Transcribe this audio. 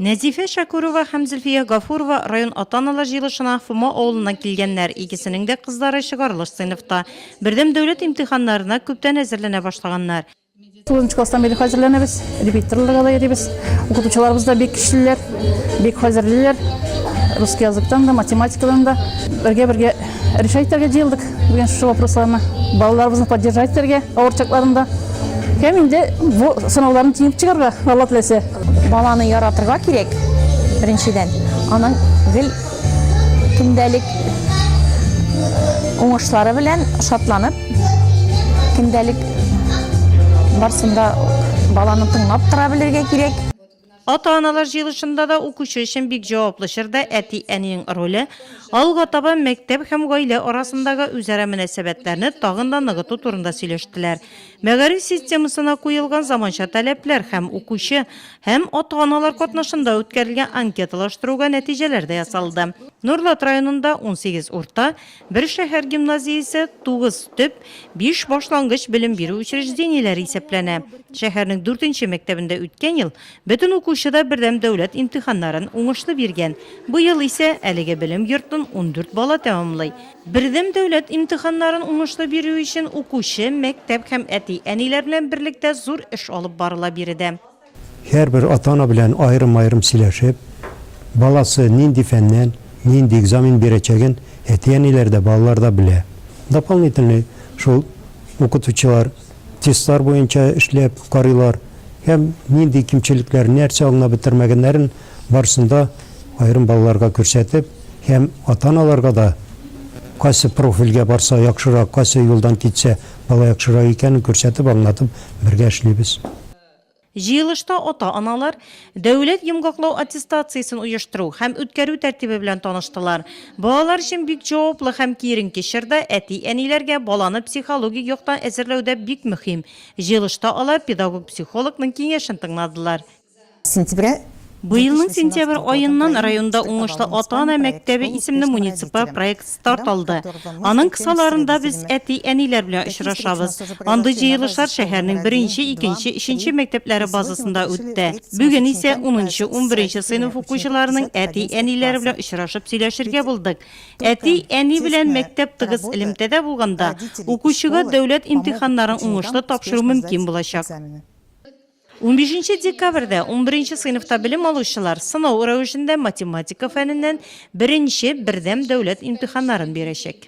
Нәзифә Шәкүрова һәм Зөлфия Гафурова район ата-аналар җыелышына Фома авылыннан килгәннәр, икесенең дә кызлары чыгарылыш сыйныфта. Бердәм дәүләт имтиханнарына күптән әзерләнә башлаганнар. Тугызынчы класстан бирле хәзерләнәбез, репетиторларга да йөрибез. Укытучыларыбыз да бик көчлеләр, бик хәзерлиләр. Русский языктан да, математикадан да. Бергә-бергә Решать итәргә җыелдык бүген шушы вопросларны. Балаларыбызны поддержать итәргә авыр чакларында. Һәм инде бу сынауларны тиңеп чыгарга Алла теләсә. Баланы яратырга кирәк, беренчедән. Аның гел көндәлек уңышлары белән шатланып, көндәлек барсын да баланы тыңлап тора белергә кирәк. Ата-аналар җыелышында да укучы өчен бик җаваплы чорда әти-әнинең роле, алга таба мәктәп һәм гаилә арасындагы үзара мөнәсәбәтләрне тагын да ныгыту турында сөйләштеләр. Мәгариф системасына куелган заманча таләпләр һәм укучы һәм ата-аналар катнашында үткәрелгән анкеталаштыруга нәтиҗәләр дә ясалды. Нурлат районында унсигез урта, Бер шәһәр гимназиясе, тугыз төп, биш башлангыч белем бирү учреждениеләре исәпләнә. Шәһәрнең дүртенче мәктәбендә үткән ел бөтен укучы да бердәм дәүләт имтиханнарын уңышлы биргән. Быел исә әлеге белем йортын ундүрт бала тәмамлый. Бердәм дәүләт имтиханнарын уңышлы бирү өчен укучы, мәктәп һәм әти-әниләр белән берлектә зур эш алып барыла биредә. Һәрбер ата-ана белән аерым-аерым сөйләшеп, баласы нинди фәннән нинди экзамен бирәчәген әти-әниләр дә, балалар да белә. Дополнительный шул укытучылар тестлар буенча эшләп карыйлар һәм нинди кимчелекләр, нәрсә аңлап бетермәгәннәрен барсын да аерым балаларга күрсәтеп һәм ата-аналарга да кайсы профильгә барса яхшырак, кайсы юлдан китсә бала яхшырак икәнен күрсәтеп, аңлатып бергә эшлибез. Җыелышта ата-аналар Дәүләт йомгаклау аттестациясен оештыру һәм үткәрү тәртибе белән таныштылар. Балалар өчен бик җаваплы һәм киеренке чорда әти-әниләргә баланы психологик яктан әзерләү дә бик мөһим. Җыелышта алар педагог-психологның киңәшен тыңладылар. Сентября Быелның сентябрь аеннан районда Уңышлы ата-ана мәктәбе исемле муниципаль проект старт алды. Аның кысаларында без әти-әниләр белән очрашабыз. Андый җыелышлар шәһәрнең беренче, икенче, өченче мәктәпләре базасында үтте. Бүген исә унынчы, унберенче сыйныф укучыларының әти-әниләре белән очрашып сөйләшергә булдык. Әти, әни белән мәктәп тыгыз элемтәдә булганда, укучыга дәүләт имтиханнарын уңышлы тапшыру мөмкин булачак. Унбишенче декабрьдә унберенче сыйныфта белем алучылар сынау рәвешендә математика фәненнән беренче бердәм дәүләт имтиханнарын бирәчәк.